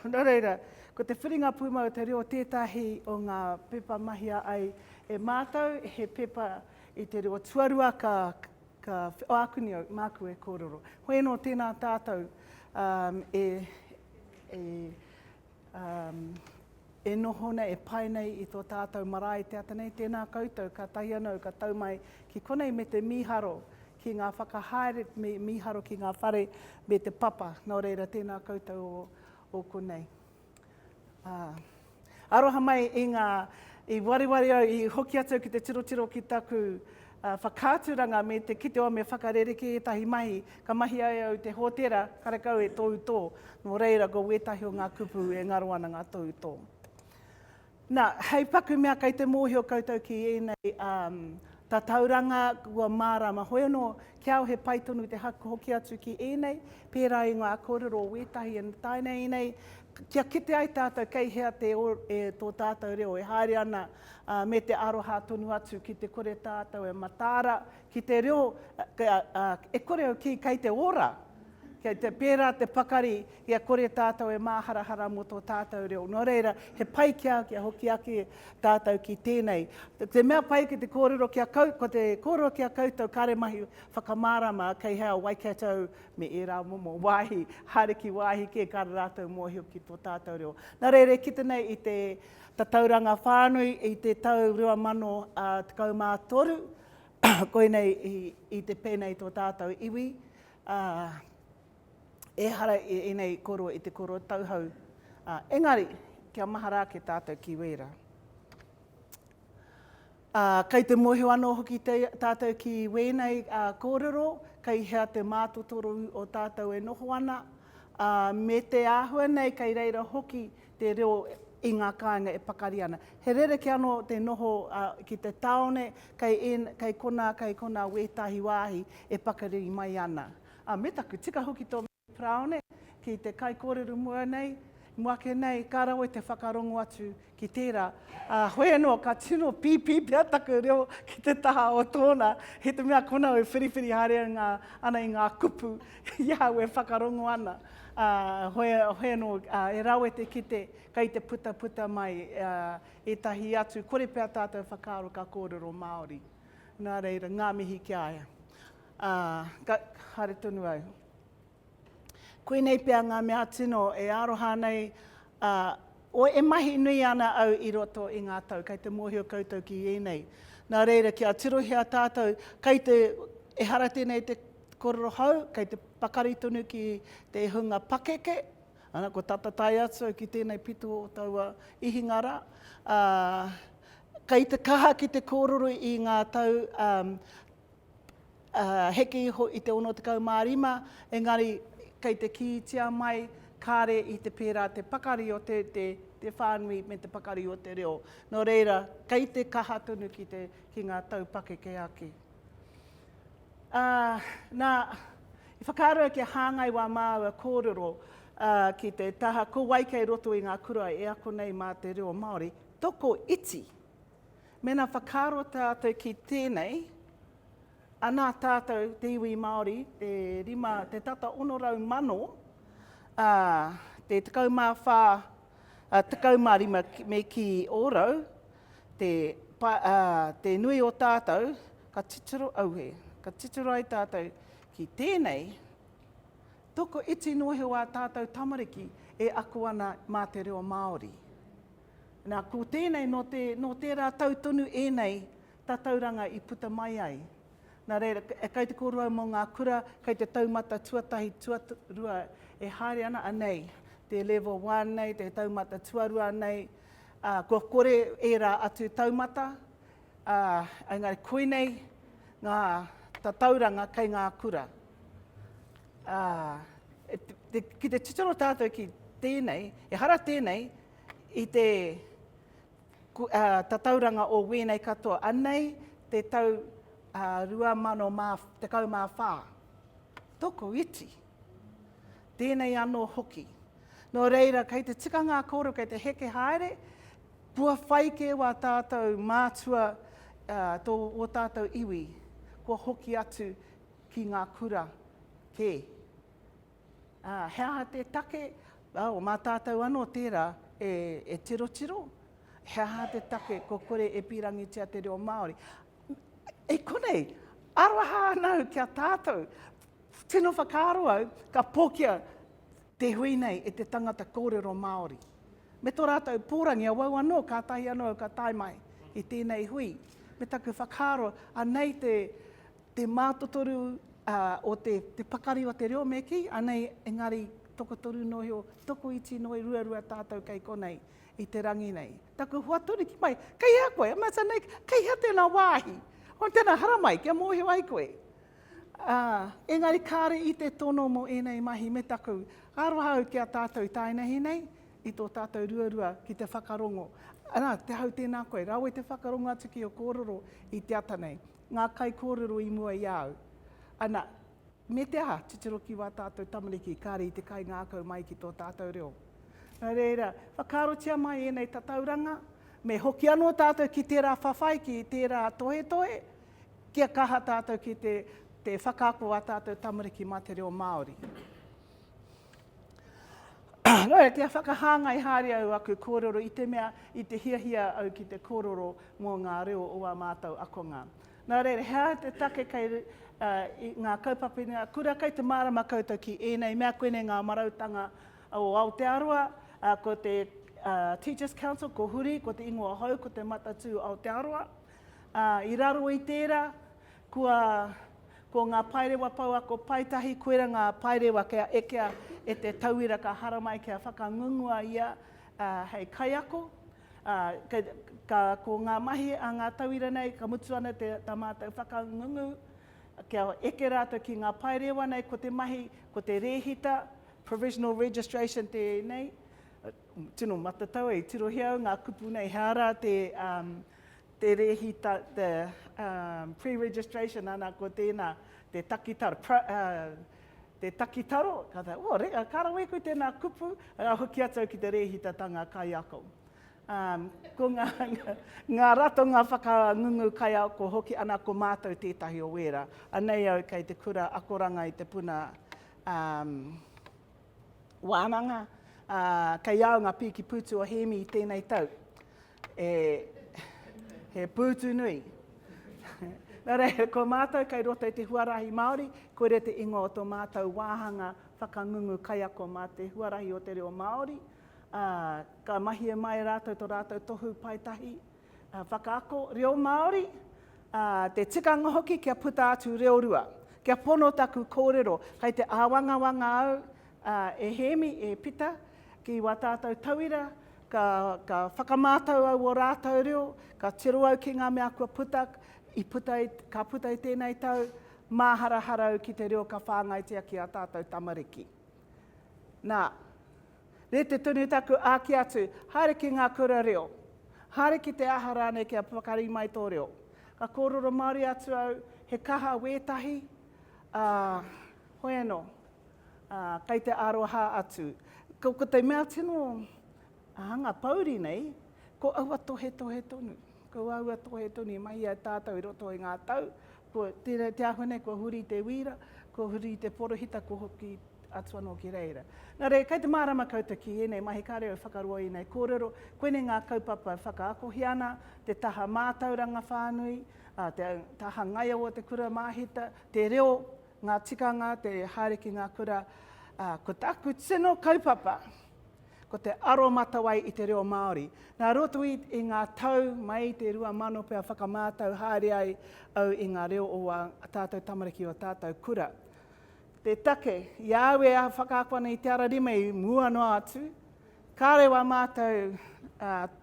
Nō reira, ko te whiringa pūmau te reo tētahi o ngā pepa mahia ai e mātou, he pepa i te reo tuarua ka, ka o akuni au, māku e kōrero. Hoi anō, tēnā tātou um, e, e, Um, e noho nei, e pai nei i tō tātou marae te ata nei, tēnā koutou, kātahi anō ka tau mai ki konei me te mīharo ki ngā whakahaere, me mīharo ki ngā whare me te papa, nō reira tēnā koutou o, o konei. Uh, aroha mai i ngā, i wariwari au, i hoki atu ki te tirotiro ki taku, whakaaturanga me te kite o me whakarerekē ētahi mahi, ka mahi ai au te hōtēra karekau e tōu tō, nō reira ko wētahi o ngā kupu e ngaro ana ngā tōu tō. Na, hei paku mea kei te mōhio koutou ki ēnei tatauranga kua mārāma hoianō kia au he pai tonu te haku hoki atu ki ēnei pērā i ngā kōrero o wētahi e tae nei nei kia kite ai tātou kei hea te tō tātou reo e haere ana ā, me te aroha tonu atu ki te kore tātou e mataara ki te reo, ā, e kore au kī, kei te ora, kei te pērā te pakari kia kore tātou e māharahara mō tō tātou reo. Nō reira, he pai ki a au kia hoki ake tātou ki tēnei. Te mea pai ki te kōrero ki a koutou, ko te kōrero ki a koutou, kāre mahi whakamārama kei hea Waikato me ērā momo wāhi, haere ki wāhi kē, kāre rātou mōhio ki tō tātou reo. Nā reira, e kite nei i te Tatauranga Whānui i te tau 2013, koinei i te pēnei tō tātou iwi, ā, ehara i ēnei koro i te koro tauhou, ā, engari kia mahara ake tātou ki wērā. Ā, kei te mōhio anō hoki te, tātou ki wēnei ā, kōrero, kei hea te mātotoro o tātou e noho ana, ā, me te āhua nei kei reira hoki te reo i ngā kāinga e pakari ana. He rerekē anō te noho ā, ki te tāone, kei ēn, kei konā, kei konā wētahi wāhi e pakari mai ana. Ā, me taku tika hoki tō. Parāone, ki te kaikōrero mua nei, mua ake nei, ka rawe te whakarongo atu ki tērā. Ā, hoi anō, ka tino pīpī pea taku reo ki te taha o tōna, i te mea konau e whiriwhiri haere ana i ngā kupu i ahau e whakarongo ana. Ā, hoi, hoi anō, ā, e rawe te kite, kei te putaputa mai, ā, ētahi atu, kore pea tātou whakaaro ka kōrero Māori. Nā reira, ngā mihi ki a ia. Ā, ka, haere tonu au. Koinei pea ngā mea tino e aroha ana ai a koe e mahi nui ana au i roto i ngā tau, kei te mōhio koutou ki ēnei. Nā reira, kia tirohia tātou, kei te, ehara tēnei te kōrero hou, kei te pakari tonu ki te hunga pakeke, ana, kua tata tae atu au ki tēnei pito o taua ihinga rā, ā, kei te kaha ki te kōrero i ngā tau, ā, heke iho i te 65, engari kei te kītia mai kāre i te pērā te pakari o te te whānui me te pakari o te reo. Nō reira, kei te kaha tonu ki te ki ngā taupakeke ake. Ā, nā, i whakaaro au kia hāngai wā māua kōrero ki te taha ko wai kei roto i ngā kura e ako nei mā te reo Māori, toko iti. Mēnā whakaaro tātou ki tēnei, anā tātou te iwi Māori, te rima, te tata 600,000, ā, te 14, ā, 15 me kī ōrau, te, pa, ā, te nui o tātou, ka titiro auhe, ka titiro ai tātou ki tēnei, toko iti noa he wā tātou tamariki e ako ana mā te reo Māori. Nā, ko tēnei, nō te, nō tērā tau tonu ēnei tatauranga i puta mai ai. Nā reira, e kai te kōrua mō ngā kura, kai te taumata tuatahi, tuarua e haere ana, anei, te Level One nei, te taumata tuarua nei, ā, kua kore ērā atu taumata, ā, engari koinei ngā tatauranga kei ngā kura. Ā, ki te titiro tātou ki tēnei, ehara tēnei, i te tatauranga o wēnei katoa. Anei te tau 2014. Toko iti. Tēnei anō hoki. Nō reira, kei te tika ngā kōrero, kei te heke haere, kua whai kē wā tātou mātua tō wō tātou iwi, kua hoki atu ki ngā kura kē. Ā, he aha te take o mā tātou anō tērā e tirotiro? He aha te take kua kore e pīrangitia te reo Māori? I konei, aroha ana au ki a tātou. Tino whakaaro au, ka pōkia te hui nei e te tangata kōrero Māori. Me tō rātou pōrangi, awau anō, kātahi anō au ka tae mai i tēnei hui. Me taku whakaaro, anei te te mātotoru o te pakari o te reo me kī, anei engari tokotoru noa iho, tokoiti noa i ruarua tātou kei konei i te rangi nei. Taku hoaturiki mai, kei hea koe? I must say, nei, kei hea tēnā wāhi? Hoi tēnā haramai kia mōhio ai koe. Engari kāre i te tono mō ēnei mahi me taku aroha au ki a tātou i taenehi nei, i tō tātou ruarua ki te whakarongo. Ana, te hau tēnā koe, rawe te whakarongo atu ki o kōrero i te ata nei. ngā kaikōrero i mua i a au. Ana, me te aha, titiro ki wā tātou tamariki, kāre i te kaingākau mai ki tō tātou reo. Nā reira, whakaarotia mai ēnei tatauranga, me hoki anō tātou ki tērā whawhai, ki tērā tohetohe, kia kaha tātou ki te whakaako ā tātou tamariki mā te reo Māori. Rae, kia whakahāngai haere au aku kōrero i te mea i te hiahia au ki te kōrero mō ngā reo o ā mātou akonga. Nā reira, he aha te take kei ngā kaupapa i ngā kura? Kei te mārama koutou ki ēnei mea, koinei ngā marautanga o Aotearoa, ko te Teachers Council, ko Huri, ko te Ingoa Hou, ko te Matatū Aotearoa. I raro i tērā, Kua, ko ngā paerewa pouako paetahi koira ngā paerewa kia ekea e te tauira ka haramai kia whakangungua ia hei kaiako. Ka, ko ngā mahi a ngā tauira nei, ka mutu ana te, tā mātou whakangungu kia eke rātou ki ngā paerewa nei, ko te mahi, ko te rēhita, provisional registration tēnei, tino matatau e, i tirohia au ngā kupu nei, he aha rā te, Te rēhita, the pre-registration, ana ko tēnā, te takitaro, te takitaro, ka taea, oh, reka, ka rawe koe tēnā kupu, ka hoki atu au ki te rēhitatanga kaiako. Ko ngā, ngā ratonga whakangungu kaiako hoki, ana ko mātou tētahi o wērā. Anei au kei te kura akoranga i te puna wānanga, kei au ngā pīki pūtu o Hēmi i tēnei tau. E, he pūtu nui. Nā reira, ko mātou kei roto i te huarahi Māori, koira te ingoa o tō mātou wāhanga whakangungu kaiako mā te huarahi o te reo Māori. Ā, ka mahi e māia rātou tō rātou tohu paetahi whakaako reo Māori, ā, te tikanga hoki kia puta atu reo rua. Kia pono taku kōrero, kei te āwangawanga au, Ā, e Hēmi, e Pita, ki wā tātou tauira, ka, ka whakamātau au ō rātou reo, ka tiro au ki ngā mea kua puta, i puta i, ka puta i tēnei tau, māharahara au ki te reo ka whāngaitia ki ā tātou tamariki. Nā, rēti tonu taku āki atu, haere ki ngā kura reo, haere ki te aha rānei kia pakari mai tō reo. Ka kōrero Māori atu au, he kaha wētahi, ā, hoi anō. Ā, kei te aroha atu. Ko, ko te mea tino hanga pouri nei, ko aua tohetohe tonu. Ko aua tohetohu i mahia e tātou i roto i ngā tau, ko tēnei te āhua nei kua huri te wīra, kua huri te porohita, kua hoki atu anō ki reira. Nā reira, kei te mārama koutou ki ēnei mahi kāre au whakaroa i ēnei kōrero, koinei ngā kaupapa e whakaakohia ana, te taha mātauranga whānui, ā, te taha ngaio o te kura māhita, te reo, Ngā tikanga, te haere ki ngā kura, ā, ko taku tino kaupapa, ko te aromatawai i te reo Māori. Nā roto i, i ngā tau mai i te 2000 pea whakamātau haere ai au i ngā reo o ā tātou tamariki, o ā tātou kura. Te take, i au e whakaako ana i te ara rima i mua noa atu, Kāore wā mātou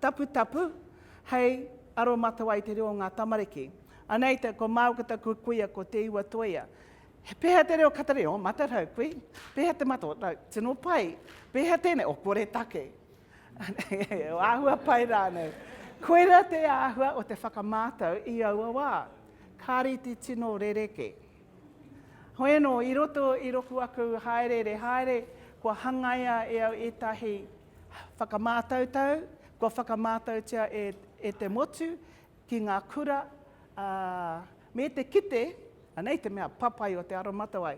taputapu hei aromatawai i te reo o ngā tamariki. Anei te, ko māu ko taku kuia ko Te Iwa Toia. He pēhea te reo kataria? O, matarau, kui. Pēhea te mata? O, no, tino pai. Pēhea tēnei? O, koretake. o āhua pai rānei. Koirā te āhua o te whakamātau i aua wā. Ka rite tino rereke. Hoi anō, i roto i roku aku hāereere haere, kua hangaia e au ētahi whakamātautau, kua whakamātautia e te motu ki ngā kura, ā, me te kite, anei te mea papai o te aromatawai,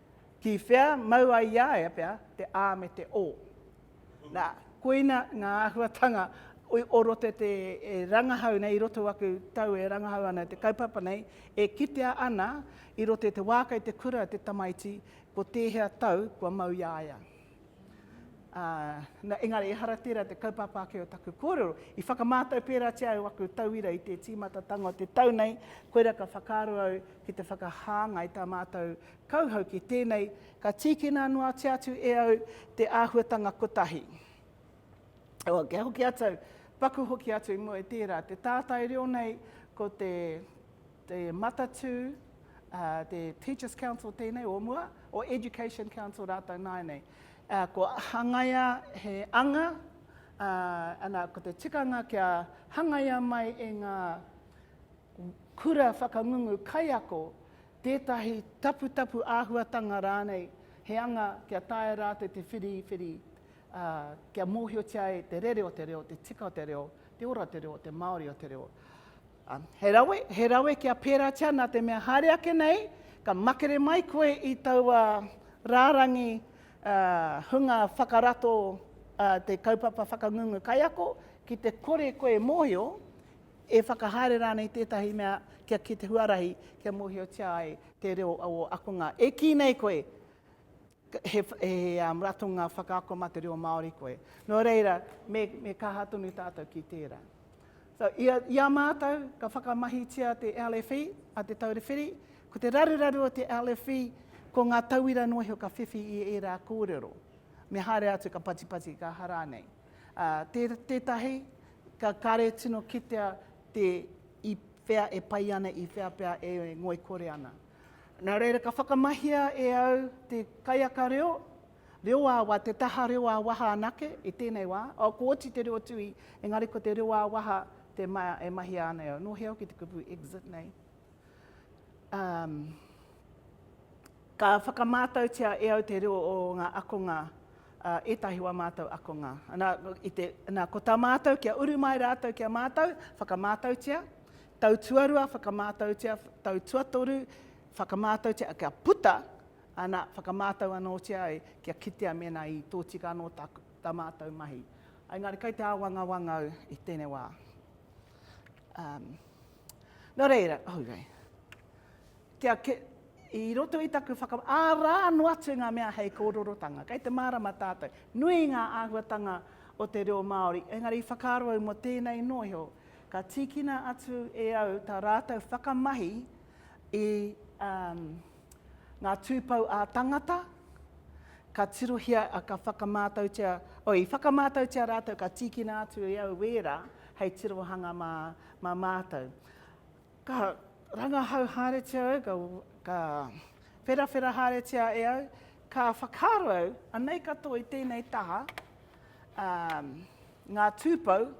Ki whea mau ai i a ia pea te a me te o. Na, koina nga ahuatanga o roto te e rangahau nei i roto aku tau e rangahau ana te kaupapa nei, e kitea ana i roto te wa kei te kura te tamaiti ko tehea tau kua mau i a ia. Ā, nā, engari ehara tērā te kaupapa ake o taku kōrero. I whakamātau pērātia au aku tauira i te tīmatatanga o te tau nei, koirā ka whakaaro au ki te whakahāngai tā mātou kauhau ki tēnei, ka tīkina noatia atu e au te āhuatanga kotahi. Ā, kia hoki atu au, paku hoki atu i mua i tērā, te tātai reo nei ko te. te Matatū, ā, te Teachers Council tēnei o mua, o Education Council rātou nāianei. Ā, kua hangaia he anga, ā, ana, ko te tikanga kia hangaia mai e ngā kura whakangungu kaiako tētahi taputapu āhuatanga rānei, he anga kia taea rātou te whiriwhiri, ā, kia mōhiotia ai te rere o te reo, te tika o te reo, te ora o te reo, te māori o te reo. Ā, he rawe, he rawe kia pērātia nā te mea haere ake nei, ka makere mai koe i taua rārangi hunga whakarato te kaupapa whakangungu kaiako, ki te kore koe e mōhio, e whakahaere rānei tētahi mea kia ki te huarahi, kia mōhiotia ai te reo o akonga. E kī nei koe, He ratonga whakaako mā te reo Māori koe. Nō reira, me kaha tonu tātou ki tērā. So, i a mātou, ka whakamahitia te LFE, a Te Taura Whiri, ko te raruraru o te LFE, ko ngā tauira noa iho ka whiwhi i ērā kōrero. Me haere atu ka patipati, ka aha rānei. Tētahi, ka kare tino kitea te i whea e pai ana, i whea pea e ngoikore ana. Nā reira ka whakamahia e au te kaiaka reo, reo ā-waha, te taha reo ā-waha anake i tēnei wā. Ko oti te reo tuhi, engari ko te reo ā-waha te mea e mahia ana e au. Nō hea hoki te kupu exit nei. Ka whakamātautia e au te reo o ngā akonga, ētahi wā mātou akonga. Nā, ko tā mātou kia uru mai rātou ki a mātou, whakamātautia, Tau tuarua, whakamātautia, tau tuatoru, whakamātautia, kia puta, ana, whakamātau anōtia ai, kia kitea mēnā i tōtika anō tā, tā mātou mahi. Engari kai te āwangawanga au i tēnei wā. Um, nō reira, oh, rei. Kia, ke, i roto i taku whakam... Ā rā anō atu ngā mea hei kōrorotanga. Kei te mārama tātou. Nui ngā āhuatanga o te reo Māori, engari i whakaaro au mō tēnei nōhio, Ka tīkina atu e au tā rātou whakamahi i ngā tūpou ā-tangata, ka tirohia, ka whakamātautia, oh, i whakamātautia rātou ka tīkina atu e au wērā hei tirohanga mā, mā mātou. Ka rangahau haeretia au, ka, ka wherawhera haeretia e au, ka whakaaro au, anei katoa i tēnei taha, ā, ngā tūpou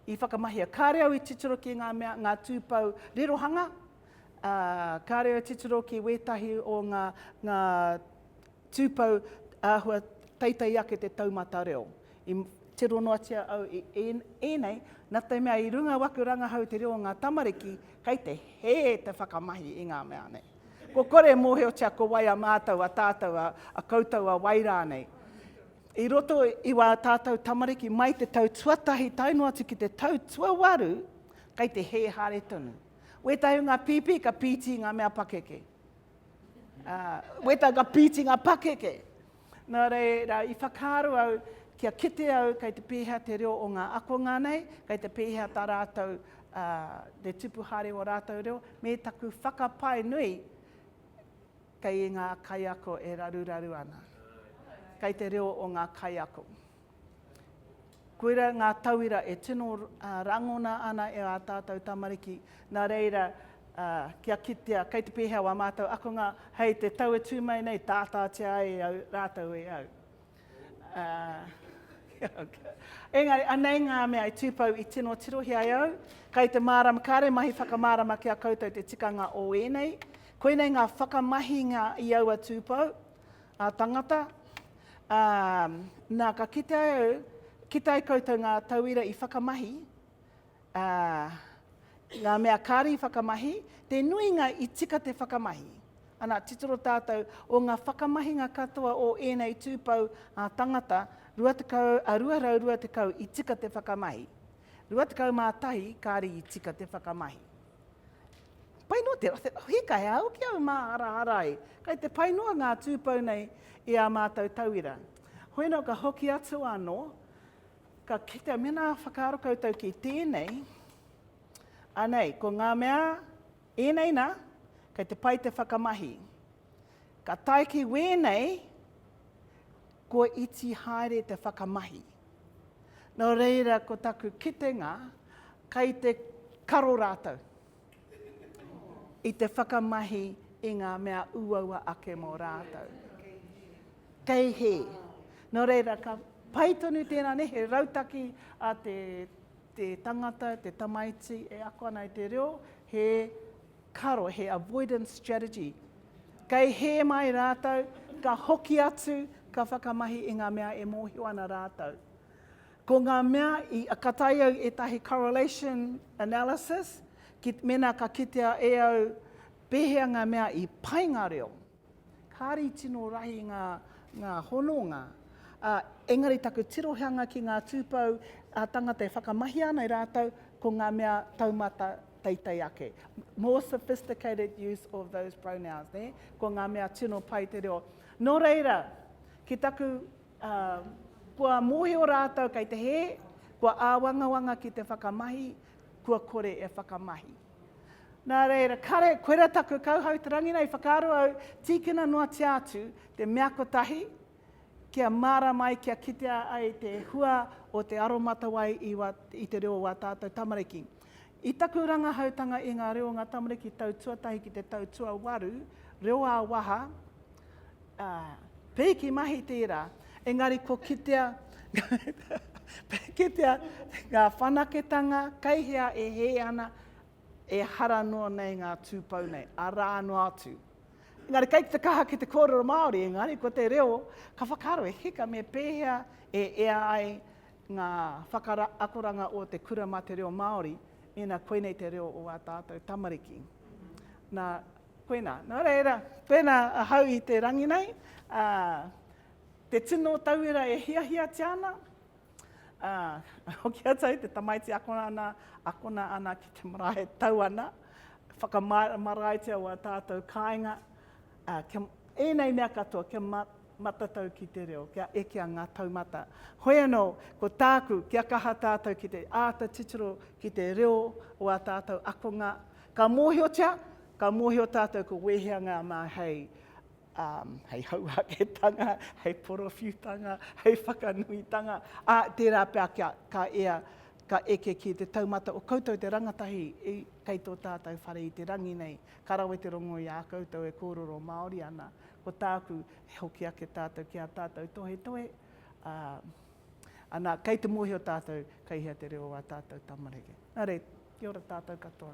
I whakamahia, kāre au i titiro ki ngā mea, ngā tūpou rerohanga, ā, kāre au i titiro ki wētahi o ngā, ngā tūpou āhua teitei ake te taumata reo. I tiro noatia au i ēnei, nā te mea i runga waku rangahau te reo o ngā tamariki, kei te hē te whakamahi i ngā mea nei. Kua kore e mōhiotia ko wai a mātou, a tātou, a koutou a wai rānei. I roto i wā tātou tamariki mai te tau tuatahi tae noa atu ki te tau tuawaru, kei te hē haere tonu. Wētahi o ngā pīpī ka pīti ngā mea pakeke. Uh, wētahi ka pīti ngā pakeke. Nā reira, i whakaaro au, kia kite au kei te pēhea te reo o ngā akonga nei, kei te pēhea tā rātou uh, te tupu haere o rātou reo, me taku whakapae nui Kei ngā kaiako e raruraru ana. Kei te reo o ngā kaiako. Koira ngā tauira e tino rangona ana e ā tātou tamariki, nā reira kia kitea kei te pēhea wā mātou akonga hei te tau e tū mai nei tātātia ai au, rātou e au. Engari, anei ngā mea i tūpou i tino tirohia e au, kai te mārama, kāre mahi whakamārama ki a koutou te tikanga o ēnei. Koinei ngā whakamahinga i aua tūpou, a tangata, ā, nā, ka kite ai au, kite ai koutou ngā tauira i whakamahi, Ā, ngā mea kāre i whakamahi, te nuinga i tika te whakamahi. Ana, titiro tātou, o ngā whakamahinga katoa o ēnei tūpou ā-tangata, 220 i tika te whakamahi. 21 kāre i tika te whakamahi. Pai noa te, te hika he au ki au mā harahara ai. Kai te pai noa ngā tūpou nei i ā mātou tauira. Hoi nō ka hoki atu anō, Ka kitea, mēnā whakaaro koutou ki tēnei, anei, ko ngā mea ēnei nā, kei te pai te whakamahi. Ka tae ki wēnei, kua iti haere te whakamahi. Nō reira, ko taku kitenga, kei te karo rātou i te whakamahi i ngā mea uaua ake mō rātou. Kei hē. Nō reira, ka pai tonu tēnā nei, he rautaki a te, te tangata, te tamaiti e ako ana i te reo, he karo, he avoidance strategy. Kei hē mai rātou, ka hoki atu, ka whakamahi i ngā mea e mōhio ana rātou. Ko ngā mea, i, ka tae au ētahi correlation analysis, ki, mēnā ka kitea e au pēhea ngā mea i pai ngā reo. Kāri tino rahi ngā, ngā hononga, ā, engari taku tirohanga ki ngā tūpou ā-tangata e whakamahia ana e rātou, ko ngā mea taumata teitei ake. More sophisticated use of those pronouns, nē? Ko ngā mea tino pai te reo. Nō reira, ki taku, ā, kua mōhio rātou kei te hē, kua āwangawanga ki te whakamahi, kua kore e whakamahi. Nā reira, kare, koirā taku kauhau te rangi nei, whakaaro au, tīkina noatia atu te mea kotahi, kia mārama ai, kia kitea ai te hua o te aromatawai i, i te reo o ā tātou tamariki. I taku rangahautanga i ngā reo o ngā tamariki tau tuatahi ki te tau tuawaru, reo ā-waha, Ā, pēki mahi tērā, engari kua kitea, kitea ngā whanaketanga kei hea e hē ana, ehara noa nei ngā tūpou nei, arā noa atu. Engari kei te kaha ki te kōrero Māori, engari ko te reo ka whakaaro e hika me pēhea e ea ai ngā whakaakoranga o te kura mā te reo Māori, mēnā koinei te reo o ā tātou tamariki. Nā, Koina. Nō reira, pēnā ahau i te rangi nei, ā, te tino tauira e hiahiatia ana, ā, hoki atu ai te tamaiti akona ana, akona ana ki te marae, tau ana, whakamāramaraitia wā tātou kāinga, ā, kia, ēnei mea katoa, kia matatau ki te reo, kia ekea ngā taumata. Hoi anō, ko tāku, kia kaha tātou ki te āta titiro ki te reo o ā tātou akonga, Ka mōhiotia, ka mōhio tātou ko wēhea ngā mā hei, um, hei hauāketanga, hei porowhiutanga, hei whakanuitanga, ā, tērā pea kia ka ea, ka eke ki te taumata o koutou te rangatahi i, kei tō tātou whare i te rangi nei. Ka rawe te rongo i a koutou e kōrero Māori ana. Ko tāku, e hoki ake tātou ki ā tātou tohetohe, ā, ana, kei te mōhio tātou kei hea te reo o ā tātou tamariki. Nā reira. Kia ora tātou katoa.